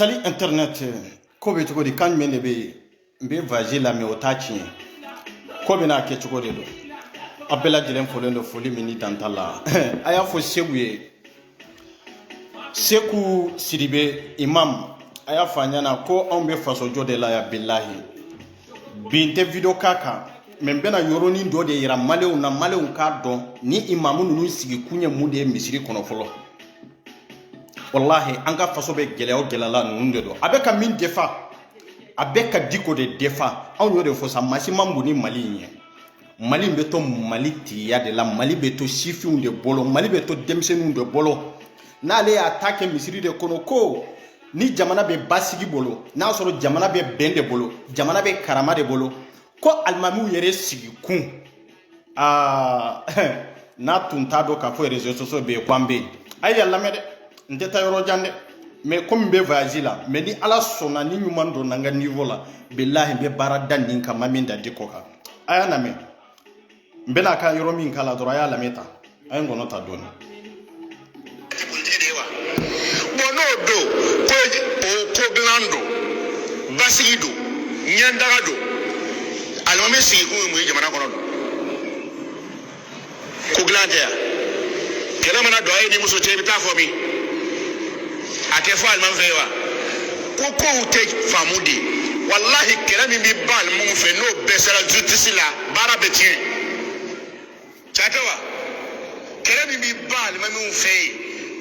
sali internet ko bɛ cogo di kan jumɛn de bɛ yen n bɛ voyage la mais o t'a tiɲɛ ko bɛɛ n'a kɛcogo de don a bɛɛ lajɛlen folen don foli min ni dan t'a la a y'a fɔ Seku ye Seku Sidibe imam a y'a fɔ a ɲɛna ko anw bɛ fasojɔ de la yan bilahi bi n tɛ video k'a kan mais n bɛna yɔrɔnin dɔ de yira malienw na malienw k'a dɔn ni imamu ninnu sigi kun ye mun de ye misiri kɔnɔ fɔlɔ walahi an ka faso bɛ gɛlɛya o gɛlɛya la ninnu de don a bɛ ka min défend a bɛ ka Diko de défend anw y'o de fɔ sa maa si man bon ni mali in ye mali bɛ to mali tigiya de la mali bɛ to sifinw de bolo mali bɛ to denmisɛnninw de bolo n'ale y'a ta kɛ misiri de kɔnɔ ko ni jamana bɛ basigi bolo n'a sɔrɔ jamana bɛ bɛn de bolo jamana bɛ karama de bolo ko alimamiw yɛrɛ sigi kun aa n'a tun t'a dɔn k'a fɔ réseaux sociaux bɛ yen ko an bɛ yen a y'a lamɛn dɛ n tɛ taa yɔrɔ jan dɛ mais komi n bɛ voyage la mais ni ala sɔnna ni ɲuman donna n ka niveau la bilahi n bɛ baara da nin kan n ma min da Diko kan a y'a lamɛn n bɛna ka yɔrɔ min k'a la dɔrɔn a y'a lamɛn ta a ye n kɔnɔ ta dɔɔni bɔn n'o don ko o ko dilan don basigi don ɲɛtaga don alimami sigikun ye mun ye jamana kɔnɔ don ko dilan tɛ yan kɛlɛ mana don cɛ ni muso cɛ i bɛ taa fɔ min a tɛ fɔ alimami fɛ wa ko kow tɛ faamu de walahi kɛlɛ min bɛ ban alimamu fɛ n'o bɛɛ sera jutisi la baara bɛ tiɲɛ can tɛ wa kɛlɛ min bɛ ban alimamu fɛ yen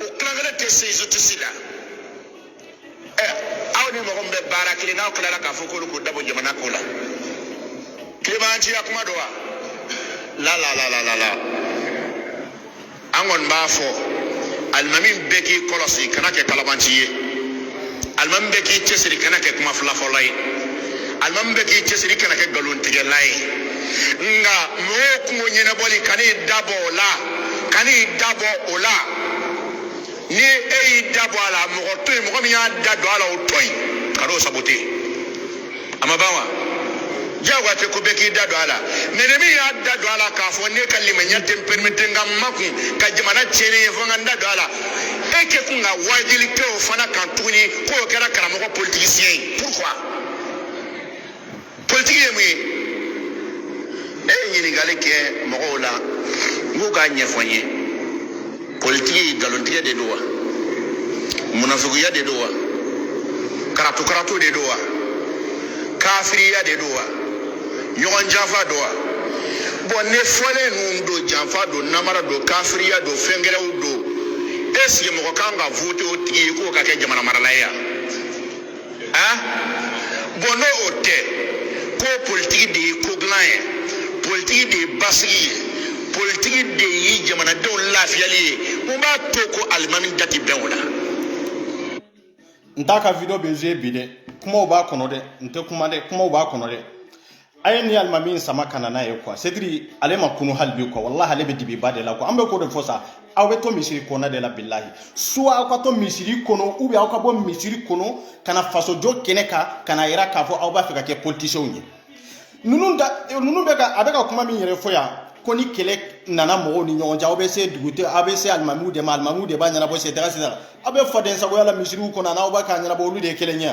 o tilan kelen tɛ se jutisi la. aw ni mɔgɔ min bɛ baara kelen na aw tilala k'a fɔ k'olu k'u da bɔ jamana ko la tilemananciya kuma don wa la la la la la la an kɔni b'a fɔ alimami bɛɛ k'i kɔlɔsi kana kɛ kalabanci ye alimami bɛɛ k'i cɛsiri kana kɛ kuma filafɔla ye alimami bɛɛ k'i cɛsiri kana kɛ nkalontigɛla ye nka mɔgɔw kunko ɲɛnabɔli kan'i da bɔ o la kan'i da bɔ o la ni e y'i da bɔ a la mɔgɔ to yen mɔgɔ min y'a da don a la o to yen kan'o sabote a ma ban wa diyagoya tɛ ko bɛɛ k'i da don a la mais ni min y'a da don a la k'a fɔ ne ka limaniya tɛ n perimete n ka makun ka jamana tiɲɛnen ye fo n ka n da don a la e kɛ kun ka waajili kɛ o fana kan tuguni k'o kɛra karamɔgɔ politigisiyɛn ye pourquoi politiki ye mun ye ne ye ɲininkali kɛ mɔgɔw la n k'u k'a ɲɛfɔ n ye politiki nkalontigɛ de don wa munafugiya de don wa karatu-karatu de don wa kafiriya de don wa ɲɔgɔn janfa don wa bɔn ni fɔlen ninnu don janfa don namara don kafiriya don fɛn gɛrɛw don est-ce que mɔgɔ kan ka vote o tigi ye k'o ka kɛ jamana marala ye yan an bɔn n'o tɛ ko politiki de ye ko dilan ye politiki de ye basigi ye politiki de ye jamanadenw lafiyali ye mun b'a to ko alimami da tɛ bɛn o la n t'a ka video bɛɛ jouer bi dɛ kumaw b'a kɔnɔ dɛ n tɛ kuma dɛ kumaw b'a kɔnɔ dɛ a ye ni alimami in sama ka na n'a ye quoi c'est-à-dire ale ma kunun hali bi quoi walahi ale bɛ dibiba de la quoi an bɛ k'o de fɔ sa aw bɛ to misiri kɔnɔ de la bilahi soit aw ka to misiri kɔnɔ ou bien aw ka bɔ misiri kɔnɔ ka na fasojɔ kɛnɛ kan ka n'a yira k'a fɔ aw b'a fɛ ka kɛ politisiɲɛw ye ninnu da ninnu bɛ ka a bɛ ka kuma min yɛrɛ fɔ yan ko ni kɛlɛ nana mɔgɔw ni ɲɔgɔn cɛ aw bɛ se dugute aw bɛ se alimamiw de ma alimamiw de b'a ɲɛnabɔ se daga sisan aw bɛ fadensagoya la misiriw kɔnɔ an'aw bɛ k'a ɲɛnabɔ olu de ye kelen ye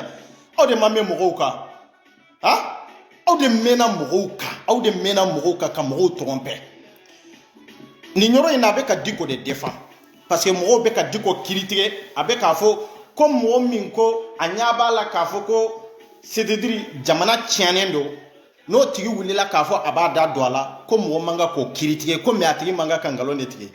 aw de ma mɛn mɔgɔw kan ha aw de mɛnna mɔgɔw kan aw de mɛnna mɔgɔw kan ka mɔgɔw tromper nin yɔrɔ in na a bɛ ka diko de défendre parce que mɔgɔw bɛ ka diko kiri tigɛ a bɛ k'a fɔ ko mɔgɔ min ko a ɲɛ b'a la k'a fɔ ko c'est-à-dire jamana tiɲɛnen don n'o tigi wulila k'a fɔ a b'a da don a la ko mɔgɔ man kan k'o kiri tigɛ ko mais a tigi man kan ka nkalon de tigɛ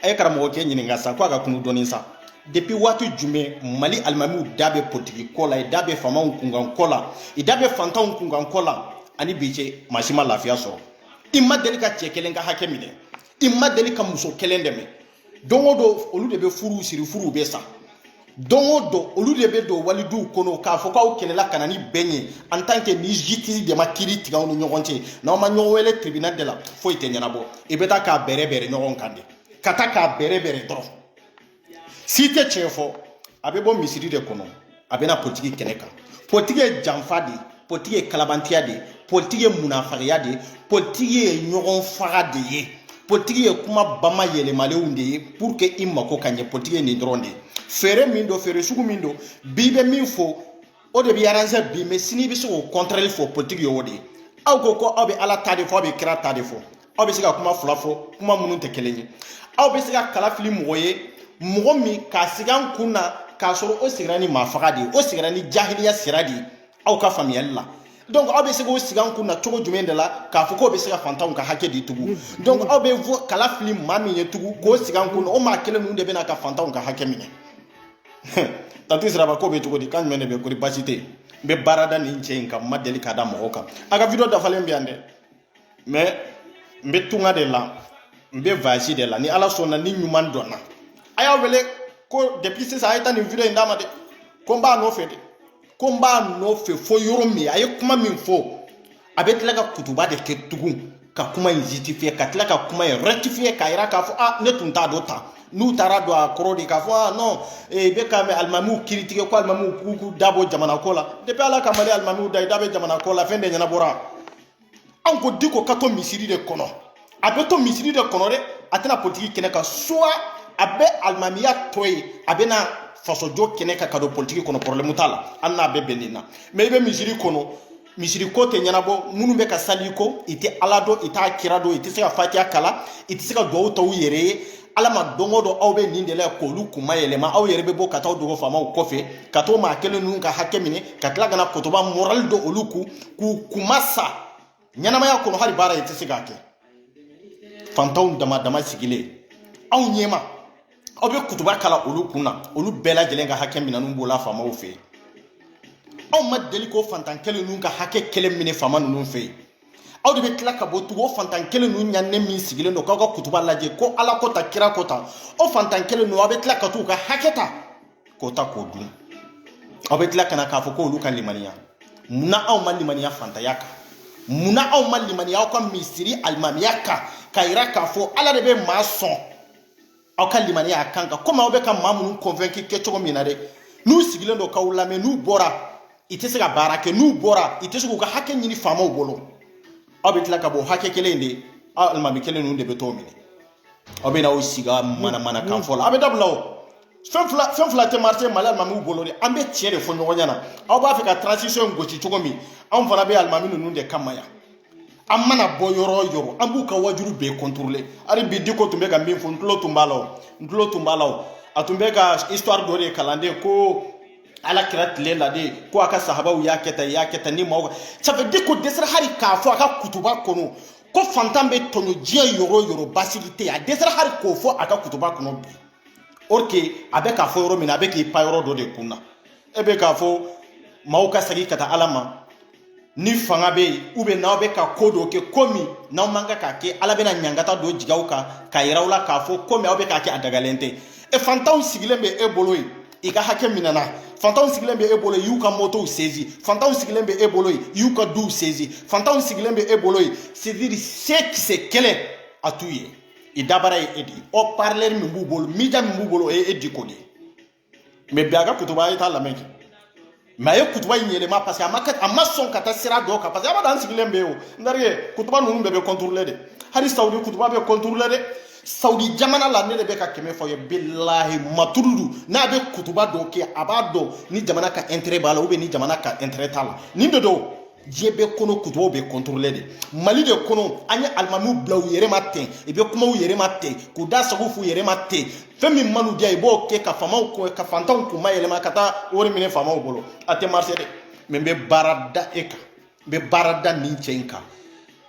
a ye karamɔgɔkɛ ɲininka sa ko a ka kunun dɔɔni sa depuis waati jumɛn mali alimamiw da bɛ politiki ko la i da bɛ faamaw kunkanko la i da bɛ fantanw kunkanko la a ni bi cɛ maa si ma lafiya sɔrɔ i ma deli ka cɛ kelen ka hakɛ minɛ i ma deli ka muso kelen dɛmɛ don o don olu de bɛ furuw siri furuw bɛ sa don o don olu de bɛ don wali duw kɔnɔ k'a fɔ k'aw kɛlɛla ka na ni bɛn ye en tant que ni justice de ma kiri tigɛ aw ni ɲɔgɔn cɛ n'aw ma ɲɔgɔn wele tribunal de la foyi tɛ ɲɛnabɔ i bɛ taa k'a bɛrɛ bɛrɛ ɲɔgɔn kan de ka taa k'a bɛrɛ bɛrɛ dɔrɔn si tɛ tiɲɛ fɔ a bɛ bɔ misiri de kɔnɔ a bɛ na politiki kɛnɛ kan politiki ye janfa de ye politiki ye kalabantiya de ye politiki ye munafigiya de ye politiki ye ɲɔgɔn faga de ye politiki ye kuma bama yɛlɛmalenw de ye pour que i mako ka ɲɛ politiki ye nin dɔrɔn de ye feere min don feere sugu min don bi bɛ min fɔ o de b'i aranze bi mais sini i bɛ se k'o contraire fɔ politiki ye o de ye aw ko ko aw bɛ ala ta de fɔ aw bɛ kira ta de fɔ aw bɛ se ka kuma fila fɔ kuma minnu tɛ kelen ye aw bɛ se ka kala fili mɔgɔ ye mɔgɔ min k'a sigi an kun na k'a sɔrɔ o sigira ni maa faga de ye o sigira ni jahiliya sira de ye aw ka faamuyali la donc aw bɛ se k'o sigi an kun na cogo jumɛn de la k'a fɔ k'o bɛ se ka fantanw ka hakɛ di tugu donc aw bɛ fɔ kala fili maa min ye tugu k'o sigi an kun na o maa kelen ninnu de bɛna ka fantanw ka hakɛ minɛ tanti siraba k'o bɛ cogo di kan jumɛn de bɛ kori baasi tɛ yen n bɛ baarada nin cɛ in kan n ma deli k'a da mɔgɔw kan a ka video dafalen bɛ yan dɛ mais n bɛ tunga de la n bɛ voyage de la ni ala sɔnna ni ɲuman donna a y'a wele ko depuis sisan a ye taa nin video in d'a ma dɛ ko n b'a nɔfɛ de ko n b'a nɔfɛ fo yɔrɔ min a ye kuma min fɔ a bɛ tila ka kutuba de kɛ tugun ka kuma in justifier ka tila ka kuma in rectifier k'a yira k'a fɔ ah ne tun t'a dɔn tan n'u taara don a kɔrɔ de k'a fɔ ah non i bɛ ka mali alimamiw critiquer ko alimamiw k'u k'u da bɔ jamanako la depuis ala ka mali alimamiw da u da bɛ jamanako la fɛn bɛɛ ɲɛnabɔra anw ko di k'u ka to misiri de kɔnɔ a bɛ to misiri de kɔnɔ dɛ a tɛ na politiki kɛnɛ kan soit a bɛ alimamiya to yen a bɛ na fasojɔ kɛnɛ kan ka don politiki kɔnɔ pɔrɔlɛmu t'a la hali n'a bɛɛ bɛn nin na mais i bɛ misiri kɔnɔ misiri ko tɛ ɲɛnabɔ minnu bɛ ka sali i kɔ i tɛ ala dɔn i t'a kira dɔn i tɛ se ka fatiya kalan i tɛ se ka dugawu ta u yɛrɛ ye ala ma don o don aw bɛ nin de la k'olu kunma yɛlɛma aw yɛrɛ bɛ bɔ ka taa dogo faamaw kɔfɛ ka t'o maa kelen ninnu ka hakɛ minɛ ka tila ka na kutuba mɔrali don olu kun k'u kunma sa ɲɛnamaya kɔnɔ hali baara u tɛ se k'a kɛ fantanw dama dama sigilen aw ɲɛma aw bɛ kutuba kalan olu kun na olu bɛɛ lajɛlen ka hakɛ minnu b'o la faamaw fɛ yen aw ma deli k'o fantan kelen ninnu ka hakɛ kelen minɛ faama ninnu fɛ yen aw de bɛ tila ka bɔ tugu o fantan kelen ninnu ɲaninen min sigilen don k'aw ka kutuba lajɛ ko ala ko tan kira ko tan o fantan kelen ninnu aw bɛ tila ka t'u ka hakɛ ta k'o ta k'o dun aw bɛ tila ka na k'a fɔ k'olu ka limaniya munna aw ma limaniya fantanya kan munna aw ma limaniya aw ka misiri alimamiya kan k'a yira k'a fɔ ala de bɛ maa sɔn aw ka limaniya a kan kan komi aw bɛ ka maa minnu convaincu kɛ cogo min na dɛ n'u sigilen don k'aw lamɛn n'u bɔra u tɛ se ka baara kɛ n'u bɔra u tɛ se k'u ka hakɛ ɲini faamaw bolo aw bɛ tila ka bɔ hakɛ kelen in de aw alimami kelen ninnu de bɛ t'o minɛ aw bɛ na aw sigi ka manamanakan fɔ la aw b'a dabila o fɛn fila fɛn fila tɛ marcher mali alimamiw bolo dɛ an bɛ tiɲɛ de fɔ ɲɔgɔn ɲɛna aw b'a fɛ ka transition in gosi cogo min anw fana bɛ alimami ninnu de kama yan an mana bɔ yɔrɔ o yɔrɔ an b'u ka waajuli bɛɛ contrôler hali bi diko tun bɛ ka min fɔ n tulo tun b'a la n tulo tun b'a la a tun bɛ ka histoire dɔ de kalan dɛ ko ala kira tile la de ko a ka sahabaw y'a kɛ tan y'a kɛ tan ni maaw ça veut dire k'o dɛsɛra hali k'a fɔ a ka kutuba kɔnɔ ko fantan bɛ tɔɲɔ diɲɛ yɔrɔ o yɔrɔ basigi tɛ yen a dɛsɛra hali k'o fɔ a ka kutuba kɔnɔ bi or que a bɛ k'a fɔ yɔrɔ min na a bɛ k'i pan yɔrɔ dɔ de kun na e bɛ k'a fɔ maaw ka segin ka taa ala ma ni fanga bɛ yen u bɛ n'aw bɛ ka ko dɔ kɛ ko min n'aw man kan k'a kɛ ala bɛna ɲangata dɔ jig'aw kan k'a yira aw la k'a fɔ ko min aw bɛ k'a kɛ a dagalen tɛ e fantanw sigilen bɛ e bolo yen i ka hakɛ minɛna fantanw sigilen bɛ e bolo y'u ka motow sezi fantanw sigilen bɛ e bolo yen y'u ka duw sezi fantanw sigilen bɛ e bolo yen c'est-à-dire se kisɛ kelen a t'u ye i dabara ye e de ye haut-parleur min b'u bolo média min b'u bolo o ye e diko de ye mɛ bi a ka kutuba a ye t'a lamɛn kɛ mɛ a ye kutuba in yɛlɛma parce que a ma a ma sɔn ka taa sira dɔ kan parce que a b'a dɔn an sigilen bɛ yen o n tarikɛ kutuba ninnu bɛɛ bɛ kɔntorole de hali sawudi kutuba bɛ kɔntorole dɛ sawudi jamana la ne de bɛ ka kɛmɛ fɔ ye bilahi matuludu n'a bɛ kutuba dɔw kɛ a b'a dɔn ni jamana ka intérêt b'a la ou bien ni jamana ka intérêt t'a la nin de don diɲɛ bɛɛ kɔnɔ kutubaw bɛ kɔntorole de mali de kɔnɔ an ye alimamiw bila u yɛrɛ ma ten i bɛ kuma u yɛrɛ ma ten k'u da sago f'u yɛrɛ ma ten fɛn min man'u diya i b'o kɛ ka faamaw ka fantanw kunmayɛlɛma ka taa wari minɛ faamaw bolo a tɛ marise dɛ mɛ n bɛ baara da e kan n bɛ baara da nin cɛ in kan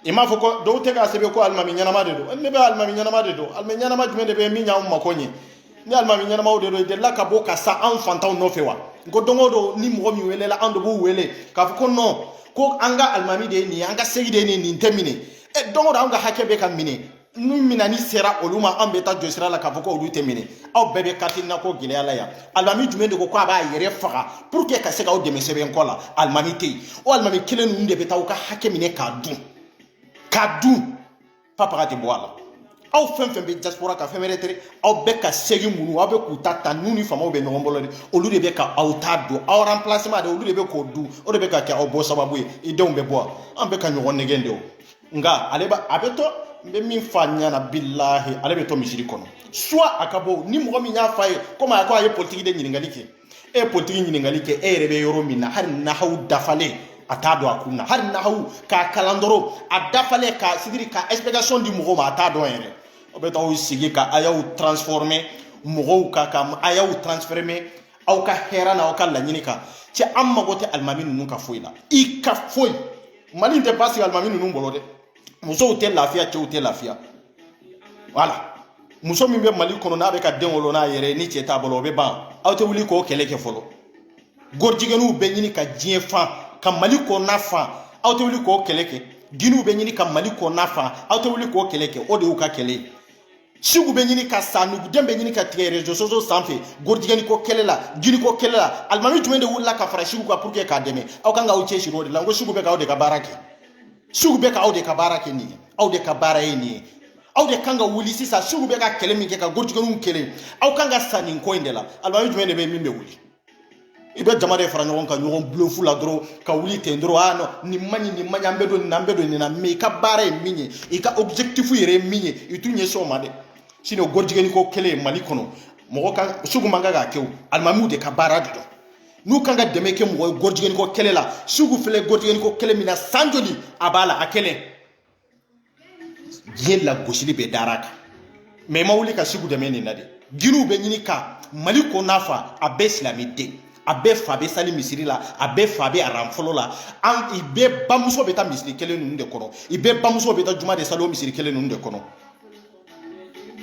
i m'a fɔ ko dɔw tɛ k'a sɛbɛn ko alimami ɲɛnama de don ne bɛ alimami ɲɛnama de don alimami ɲɛnama jumɛn de bɛ min y'anw mako ɲɛ ni alimami ɲɛnamaw de don i delila ka bɔ ka sa anw fantanw nɔfɛ wa n ko don o don ni mɔgɔ min welela anw de b'u wele k'a fɔ ko nɔn ko an ka alimami de ye nin ye an ka sɛki de ye nin ye nin tɛ minɛ ɛ don o don anw ka hakɛ bɛ ka minɛ n'u minɛni sera olu ma an bɛ taa jɔ sira la k'a fɔ ko olu tɛ minɛ aw bɛɛ bɛ kati nina ko gɛlɛya la yan alimami jumɛn de ko k'a b'a yɛrɛ faga pour que ka se k'aw dɛmɛ sɛbɛnko la alimami tɛ yen o alimami kelen ninnu de bɛ taa u ka hakɛ minɛ k'a dun k'a dun papaga tɛ bɔ a la aw fɛn fɛn bɛ diaspora ka fɛn wɛrɛ tere aw bɛ ka segin minnu aw bɛ k'u ta ta n'u ni faamaw bɛ ɲɔgɔn bolo de olu de bɛ ka aw ta dun aw remplacement de olu de bɛ k'o dun o de bɛ ka kɛ aw bɔ sababu ye i denw bɛ bɔ an bɛ ka ɲɔgɔn nɛgɛn de o nka ale ba a bɛ to n bɛ min fɔ a ɲɛna bilahi ale bɛ to misiri kɔnɔ suwa a ka bɔ ni mɔgɔ min y'a fɔ a ye komi a ko a ye politiki de ɲininkali kɛ e ye politiki ɲininkali kɛ e yɛrɛ bɛ yɔrɔ min na hali nahawu dafalen a t'a dɔn a kun na hali nahawu k'a kalan dɔrɔn a dafalen ka c'est-à-dire ka explication di mɔgɔw ma a t'a dɔn yɛrɛ aw bɛ taa aw sigi ka ayaw transformer mɔgɔw ka ka ayaw transformer aw ka hɛrɛ na aw ka laɲini kan cɛ an mago tɛ alimami ninnu ka foyi la i ka foyi mali tɛ basigi alimami ninnu bolo dɛ musow tɛ lafiya cɛw tɛ lafiya wala muso min bɛ mali kɔnɔ n'a bɛ ka den wolo n'a yɛrɛ ye ni cɛ t'a bolo o bɛ ban aw tɛ wuli k'o kɛlɛ kɛ fɔlɔ gorijigɛniw bɛ ɲini ka diɲɛ fa ka mali kɔnɔna fa aw tɛ wuli k'o kɛlɛ kɛ giniw bɛ ɲini ka mali kɔnɔna fa aw tɛ wuli k'o kɛlɛ kɛ o de y'u ka kɛlɛ ye sigu bɛ ɲini ka sa nuguden bɛ ɲini ka tigɛ réseaux sociaux sanfɛ gorijigɛniko kɛlɛ la giniko kɛlɛ la alimami jumɛn de wulila ka fara sigu kan pour que k'a dɛmɛ aw kan k'aw cɛ siri o de la n ko sigu bɛ k'aw de ka baara kɛ sigu bɛ k'aw de ka baara kɛ nin ye aw de ka baara ye nin ye aw de kan ka wuli sisan sigu bɛ ka kɛlɛ min kɛ ka gorijigɛniw kɛlɛ aw kan ka sa nin ko in de la alimami jumɛn de bɛ min bɛ wuli i bɛ jama de fara ɲɔgɔn kan ɲɔgɔn bulofu la dɔrɔn ka wuli ten dɔrɔn a nɔ nin man ɲi nin man ɲi an bɛ don nin na an bɛ don nin na mɛ i ka baara ye min ye i ka objectif yɛrɛ ye min ye i t'u ɲɛsin o ma dɛ sinon gɔrijigɛni ko kɛlɛ mali kɔnɔ mɔgɔ kan sugu man kan k'a kɛ o alimamiw de ka baara de don n'u kan ka dɛmɛ kɛ mɔgɔ ye gɔrijigɛni ko kɛlɛ la seku filɛ gɔrijigɛni ko kɛlɛ min na san joli a b'a la a kɛlɛ diɲɛ lagosili bɛɛ dara a kan mɛ i ma wuli ka seku dɛmɛ nin na dɛ jiriw bɛ ɲini ka mali kɔnɔna fa a bɛɛ silamɛ den a bɛɛ fa bɛ sali misiri la a bɛɛ fa bɛ aran fɔlɔ la an i bɛɛ bamuso bɛ taa misiri kelen ninnu de kɔnɔ i bɛɛ bamuso bɛ taa juma de sali o misiri kelen ninnu de kɔnɔ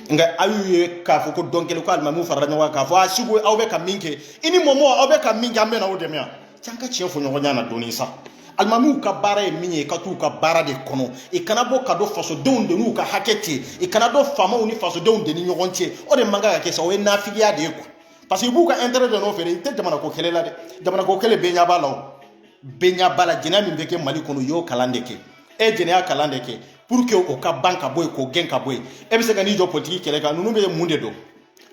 nka aw ye k'a fɔ ko don kelen ko alimamiw farala ɲɔgɔn kan k'a fɔ a si ko aw bɛ ka min kɛ i ni mɔmɔ aw bɛ ka min kɛ an bɛ na o dɛmɛ yan cɛ an ka tiɲɛ fɔ ɲɔgɔn ɲɛ na dɔɔni sa alimamiw ka baara ye min ye i ka t'u ka baara de kɔnɔ i kana bɔ ka don fasodenw de n'u ka hakɛ cɛ i kana don faamaw ni fasodenw de ni ɲɔgɔn cɛ o de man kan ka kɛ sa o ye nafigiya de ye quoi parce que i b'u ka intérêt de nɔfɛ dɛ i tɛ jamanako kɛlɛ la dɛ jamanako kɛlɛ bɛɛ ɲɛ b'a la o bɛnɲa bala jɛnɛ min bɛ kɛ mali kɔnɔ y'o kalan de kɛ e jɛnɛya kalan de kɛ pour que o ka ban ka bɔ yen k'o gɛn ka bɔ yen e bɛ se ka n'i jɔ politiki kɛnɛ kan ninnu bɛ mun de dɔn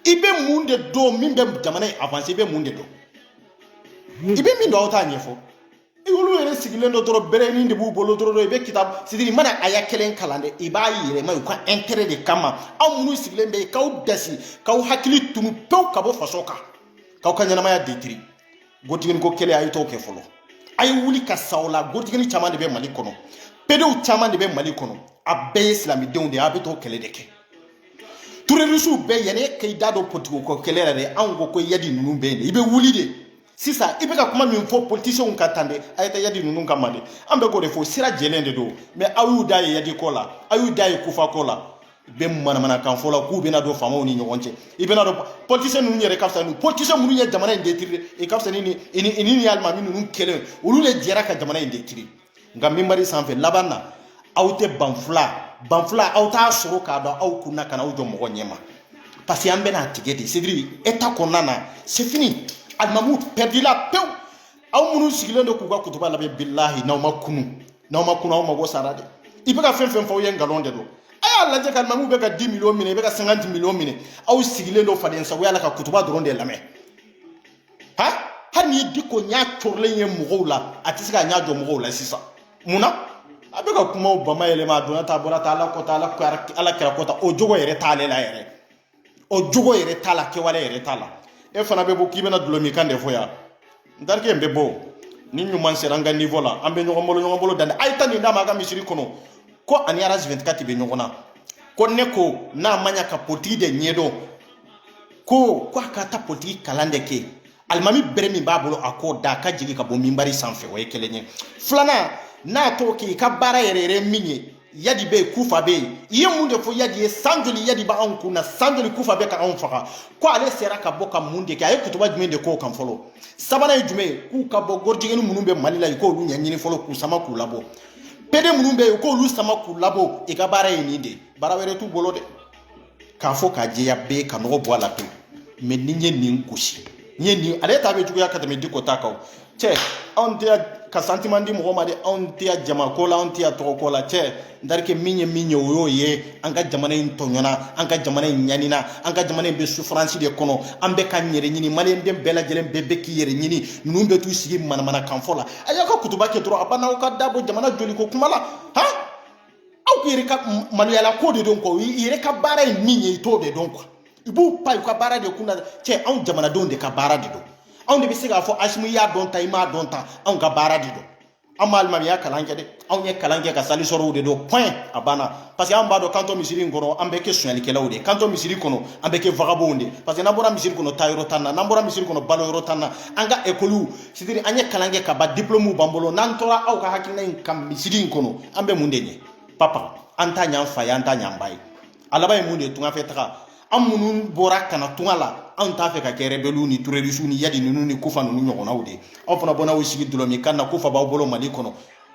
i bɛ mun de dɔn min bɛ jamana in avanse i bɛ mun de dɔn i bɛ min dɔn aw t'a ɲɛfɔ i olu yɛrɛ sigilen don dɔrɔn berenin de b'u bolo dɔrɔn i bɛ kita c'est-à-dire mana aya kelen kalan dɛ i b'a yɛlɛma u ka intérêt de kama aw minnu sigilen bɛ yen k'aw dasi k'aw hakili tunu pewu ka bɔ faso kan k'aw ka ɲɛnamaya detiri gɔrijigɛni ko kɛlɛ a ye t'o kɛ fɔlɔ a ye wuli ka sa o la gɔrijigɛni caman de bɛ mali kɔnɔ pedew caman de bɛ mali kɔnɔ a bɛɛ ye silamidenw de ye a bɛ t'o kɛlɛ de kɛ terɔrisiw bɛɛ yanni e ka i da don politiki ko kɛlɛ yɛrɛ de anw ko ko iyadi ninnu bɛ yen de i bɛ wuli de sisan i bɛ ka kuma min fɔ politisiɲɛw kan tan de a ye taa iyadi ninnu kama de an bɛ k'o de fɔ sira jɛlen de don mɛ aw y'u da ye iyadi ko la aw y'u da ye kufa ko la bɛ manamanakan fɔ la k'u bɛna don faamaw ni ɲɔgɔn cɛ i bɛna don politisiyɛn ninnu yɛrɛ ka fisa ni politisiyɛn minnu ye jamana in detiri i ka fisa ni ni ni ni alimami ninnu kɛlen olu de jɛra ka jamana in detiri nka minbari sanfɛ laban na aw tɛ banfula banfula aw t'a sɔrɔ k'a don aw kun na ka na aw jɔ mɔgɔ ɲɛma parce que an bɛna a tigɛ de c'est-à-dire eta kɔnɔna na c'est fini alimamu pɛdila pewu aw minnu sigilen don k'u ka kutuba lamɛn bilahi n'aw ma kunun n'aw ma kunun aw mago sara de i bɛ ka fɛn fɛn fɔ aw ye nkalon de don a y'a lajɛ ko alimamu bɛ ka di miliyɔn minɛ i bɛ ka sankanti miliyɔn minɛ aw sigilen don faden sagoya la ka kutuba dɔrɔn de lamɛn ha alimami diko ɲa cɔrilen ye mɔgɔw la a tɛ se k'a ɲa jɔ mɔgɔw la sisan mun na a bɛ ka kumaw bama yɛlɛma a donna tan a bɔra tan ala ko tan ala kira ko tan o jogo yɛrɛ t'ale la yɛrɛ o jogo yɛrɛ t'a la kɛwale yɛrɛ t'a la e fana bɛ bɔ k'i bɛna dulɔmin kan de fɔ yan n terikɛ in bɛ bɔ ni ɲuman sera an ka niveau la an bɛ ɲɔgɔn bolo ɲɔgɔn bolo dan a ye taa nin d'a ma a ka misiri kɔnɔ ko a ni arazi vɛntikati bɛ ɲɔgɔn na ko ne ko n'a ma ɲa ka politiki de ɲɛdɔn ko ko a ka taa politiki kalan de kɛ alimami bere min b'a bolo a k'o da ka jigin ka bɔ minbari sanfɛ o ye kelen ye filanan n'a t'o kɛ i ka baara yɛrɛ yɛrɛ min ye yadi bɛ yen kufa bɛ yen i ye mun de fɔ yadi ye san joli yadi bɛ anw kun na san joli kufa bɛ ka anw faga ko ale sera ka bɔ ka mun de kɛ a ye kutuba jumɛn de k'o kan fɔlɔ sabanan ye jumɛn ye k'u ka bɔ gorijigini minnu bɛ mali la i k'olu ɲɛɲini fɔlɔ k'u sama k'u labɔ pede minnu bɛ yen k'olu sama k'u labɔ i ka baara ye nin de ye baara wɛrɛ t'u bolo dɛ k'a fɔ k'a jɛya bɛɛ ka nɔgɔ bɔ a la pewu mɛ ni n ye nin gosi n ye nin ale ta bɛ juguya ka tɛmɛ diko ta kan cɛ anw tɛ ka santiman di mɔgɔ ma dɛ anw tɛ jama ko la anw tɛ tɔgɔ ko la cɛ n terikɛ min ye min ye o y'o ye an ka jamana in tɔɲɔna an ka jamana in ɲanina an ka jamana in bɛ sufaransi de kɔnɔ an bɛ k'an yɛrɛ ɲini maliyɛnden bɛɛ lajɛlen bɛɛ bɛ k'i yɛrɛ ɲini ninnu bɛ t'u sigi manamanakanfɔ la a y'aw ka kutuba kɛ dɔrɔn a banna aw k'a da bɔ jamana jɔliko kuma la han aw k'i yɛrɛ ka maloyala ko de don kɔ i yɛrɛ ka baara ye min ye i t'o de dɔn quoi i b'i pan an ka baara de kun na cɛ anw jamanadenw de ka baara de don anw de bɛ se k'a fɔ asimu y'a dɔn ta i m'a dɔn ta anw ka baara de don an ma alimamiya kalan kɛ dɛ anw ye kalan kɛ ka sali suraw de dɔn point a banna parce que an b'a dɔn k'an to misiri in kɔnɔ an bɛ kɛ sonyɛlikɛlaw de k'an to misiri kɔnɔ an bɛ kɛ vagabonw de parce que n'an bɔra misiri kɔnɔ taa yɔrɔ t'an na n'an bɔra misiri kɔnɔ balo yɔrɔ t'an na an ka ekɔliw sidiri an ye kalan kɛ ka ban diplɔmuw b'an bolo n'an tora aw ka hakilina in ka misiri in kɔnɔ an bɛ mun de ɲɛ papa an t'a ɲ'an fa ye an t'a ɲ'an ba ye a laban ye mun de ye tunga fɛ taga an minnu bɔra ka na tunga la anw t'a fɛ ka kɛ rɛbɛliw ni terɔrisiw ni yadi ninnu ni kufa ninnu ɲɔgɔnnaw de ye aw fana bɔ n'aw sigi dulɔmi kan na kufa b'aw bolo mali kɔnɔ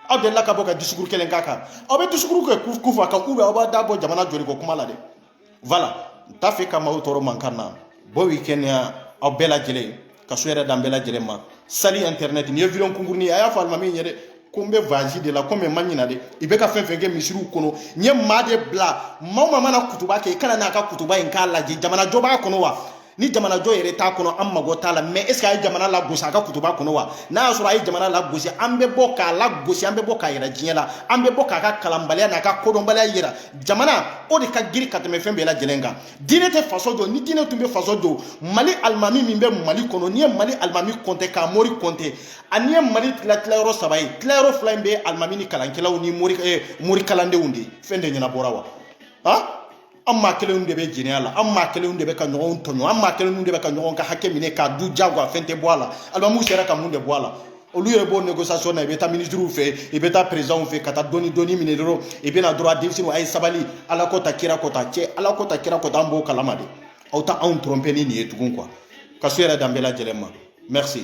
aw delila ka bɔ ka disikuru kelen k'a kan aw bɛ disikuru kɛ kufa kan ou bien aw b'a da bɔ jamana jɔliko kuma la dɛ voilà n t'a fɛ ka maaw tɔɔrɔ mankan na bɔ w'i kɛnɛya aw bɛɛ lajɛlen ka su hɛrɛ d'an bɛɛ lajɛlen ma sali internet nin ye video kunkurunin a y'a fɔ alimami ye dɛ ko n bɛ voyage de la quoi mɛ n ma ɲina dɛ i bɛ ka fɛn fɛn kɛ misiriw kɔnɔ n ye maa de bila maa o maa mana kutuba kɛ i ka na n'a ka kutuba in n k'a lajɛ jamanajɔ b'a kɔnɔ wa ni jamanajɔ yɛrɛ t'a kɔnɔ an mago t'a la mɛ est-ce que a ye jamana lagosi a ka kutuba kɔnɔ wa n'a y'a sɔrɔ a ye jamana lagosi an bɛ bɔ k'a lagosi an bɛ bɔ k'a yira diɲɛ la an bɛ bɔ k'a ka kalanbaliya n'a ka kodɔnbaliya yira jamana o de ka giri ka tɛmɛ fɛn bɛɛ lajɛlen kan diinɛ tɛ faso jɔ ni diinɛ tun bɛ faso jɔ mali alimami min bɛ mali kɔnɔ n'i ye mali alimami kɔntɛ k'a mori kɔntɛ n'i ye mali tila tilayɔrɔ saba ye tilayɔrɔ fila in bɛ alimami ni kalankɛlaw ni mori eh, mori kalandenw de fɛn de ɲɛnabɔra wa ah an maa kelenw de bɛ jɛnɛya la an maa kelenw de bɛ ka ɲɔgɔn tɔɲɔ an maa kelenw de bɛ ka ɲɔgɔn ka hakɛ minɛ k'a dun jagoya fɛn tɛ bɔ a la alimamiw sera ka mun de bɔ a la olu yɛrɛ b'o négociation na i bɛ taa minisiriw fɛ i bɛ taa peresidanw fɛ ka taa dɔni dɔni minɛ dɔrɔn i bɛ na dɔrɔn a denmisɛnninw a ye sabali ala kɔ ta kira kɔ ta cɛ ala kɔ ta kira kɔ ta an b'o kalama dɛ aw tɛ anw tɔrɔnpe ni nin ye tugun quoi ka su hɛrɛ d'an bɛɛ lajɛlen ma merci